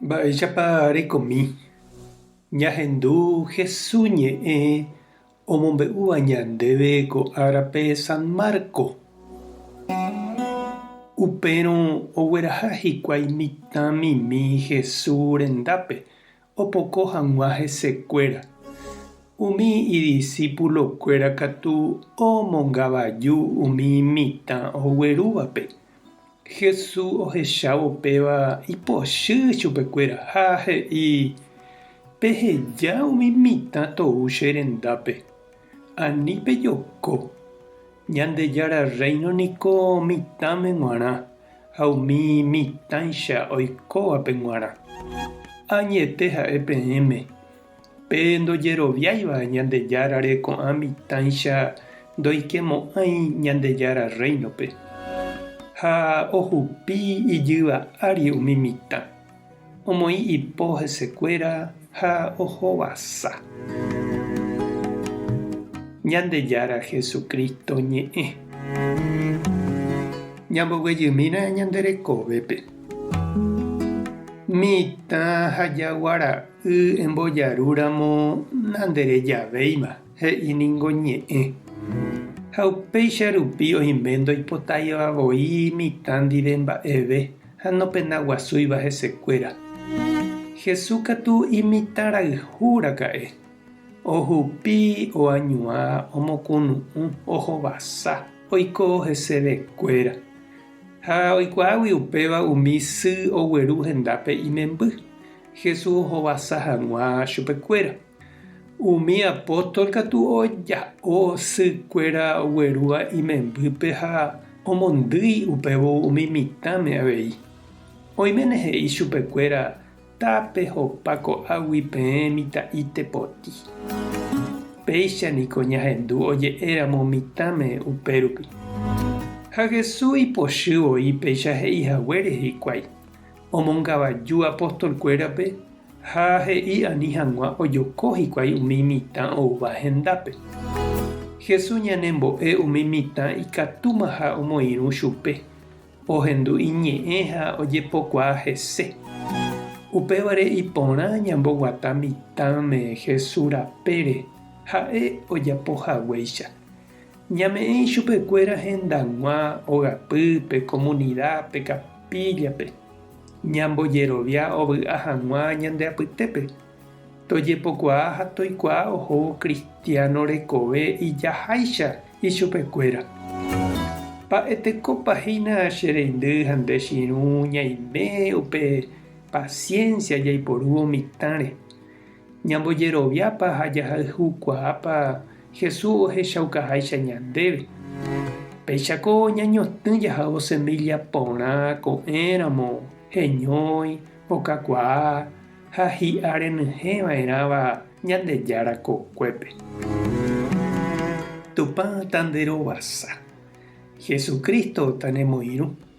Mba'éichapa rekomi ñahendu Hesu ñe'ẽ omombe'úva ñandéve ko árape San Marco? Upérõ ogueraha hikuái mitãmimi Hesu rendápe opoko hag̃ua hesekuéra. Umi idisípulokuéra katu omongavaju umi mitã oguerúvape. Jesús ohechávo upéva ipochy chupekuéra ha he'i, Peheja umi mitã tou che rendápe. Ani pejoko. Ñandejára Rréino niko mitãme g̃uarã ha umi mitãicha oikóvape g̃uarã. Añete ha'e peẽme, pe ndojeroviáiva Ñandejárare ko'ã mitãicha ndoikemo'ãi Ñandejára Rréinope, ha ohupi ijyva ári umi mitã. Omoĩ ipo hesekuéra ha ohovasa. Ñandejára Jesucristo ñe'ẽ. Ñamboguejymína ñande rekovépe. Mitã ha jagua ra'y embojaru ramo nandere javéima, he'i ningo ñe'ẽ. Ha upéicha rupi oime ndoipotáiva voi mitã ndive mba'eve. ha nopenaguasúiva hesekuéra. Jesús katu imitãrayhu raka'e, ohupi, oañuã, omokunu'ũ, ohovasa, oiko hesevekuéra. Ha oikuaágui upéva umi sy ogueru hendápe imemby, Jesús ohovasa hag̃ua chupekuéra. Umi apóstol katu oja'o sy kuéra oguerúva imembýpe ha omondýi upévo umi mitãme avei. Oiméne he'i chupe kuéra, Tapehopa ko'águi peẽ mitã'i tepoti. Péicha niko ñahendu oje'e ramo mitãme upérupi. Ha Jesús ipochy voi péicha he'i haguére hikuái, omongavaju apostolkuérape ha he'i ani hag̃ua ojoko hikuái umi mitã oúva hendápe. Jesús ñanembo'e umi mitã ikatúmaha omoirũ chupe, ohendu iñe'ẽ ha ojepokuaa hese. Upévare iporã ñamboguata mitãme Jesús rapére ha'e ojapo haguéicha, Ñame'ẽ ichupekuéra hendag̃ua ogapy, pe komunida, pe kapíllape. Ñambojerovia ovy'a hag̃ua ñande apytépe. Tojepokuaa ha toikuaa ohóvo kristiáno rekove ijaháicha ichupekuéra. Mba'etekópa hína che reindy ha nde chirũ ñaime upe pasiénsia jaiporúvo mitãre. Ñambojeroviápa ha jahayhukuaápa Jesús ohechaukaháicha ñandéve? Péichako ñañotỹ jahávo semílla porã ko'ẽramo heñói, okakuaa ha hi'a renyhẽ va'erãva Ñandejára kokuépe. Tupã tanderovasa. Jesucristo tanemoirũ.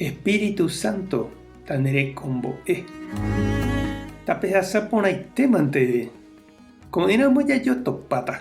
Espíritu Santo tanerekombo'e. Tapehasa porãitémante, ko'ẽramo jajotopáta.